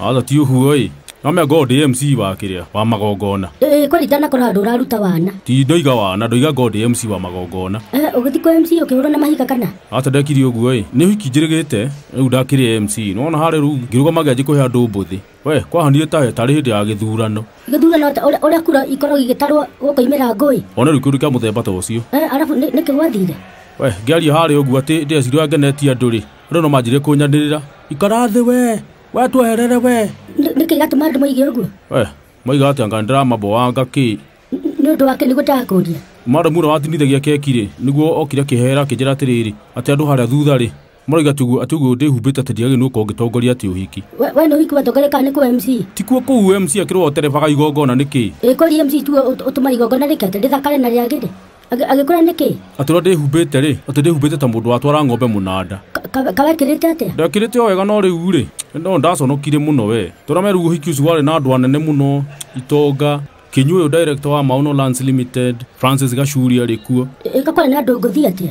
Aca ti ũguo ĩ. No mĩanga ũyũ ndĩ MC wa kĩrĩa wa magongona. Ĩĩ kũringana kũrĩ handũ ũraruta wana. Ti ndoiga wana, ndoiga ngo ndĩ MC wa magongona. Eh, ũgĩthiĩ kwa MC ũkĩhũrwo na mahiga kana? Aca ndekiri ũguo ĩ. Nĩ ũhiki njĩrĩgĩte, rĩu ndakĩrĩ MC. Nĩwona harĩa rĩu ngĩrũgama ngĩanjia kũhe andũ mbũthĩ. We, kwahanire ta he tarĩ hĩndĩ ya gĩthurano. Gĩthurano atĩ ũrĩa ũrĩa kura ikorwo igĩtarwo gũkoimĩra ngũĩ. One rĩu kĩũndũ kĩa mũthemba ta ũcio. Eh, arabu nĩ nĩ kĩgwathire. We, ngĩaria harĩa ũguo atĩ ndĩreciria ũrĩa ngenetie andũ-rĩ, Rĩu no manjirie kũnyanĩrĩra. Ikara thĩ we, we tweherere we. Nĩ- nĩkĩ gatũma andũ moige ũguo We, moiga atĩ anga ndĩramaboanga kĩ. Nĩ- nĩ ũndũ wake nĩguo ndakũria Madam ũrĩa watinithagia keki rĩ, nĩguo okire akĩhera akĩnjĩra atĩrĩrĩ, atĩ andũ harĩa thutha rĩ, maroiga atĩ ũguo- atĩ ũguo ndĩhumbĩte atĩ ndiagĩrĩirwo nĩ gũkorwo ngĩtongoria atĩ ũhiki. We- we nĩ ũhiki watongoria kana nĩ kũwa mc Tikuo kũu MC akĩrwo oterebaga igongona nĩkĩ? ĩkũria mc tu ũtũma igongona rĩkete rĩthakare na rĩagĩrĩ Agĩ- agĩkũra nĩkĩ atũra ndĩhumbĩte rĩ atĩ ndĩhumbĩte ta mũndũ watwara ng'ombe mũnanda kawekĩrĩte atĩa ndekĩrĩte o wega no rĩu rĩ no ndaconokire mũno we tũrameru ũhiki ũcio warĩ na andũ anene mũno itonga kĩnyuĩ ũyũ director wa mauno lands limited francis gacuri arĩ kuo ĩka kwarĩ na ndũngũthi atĩa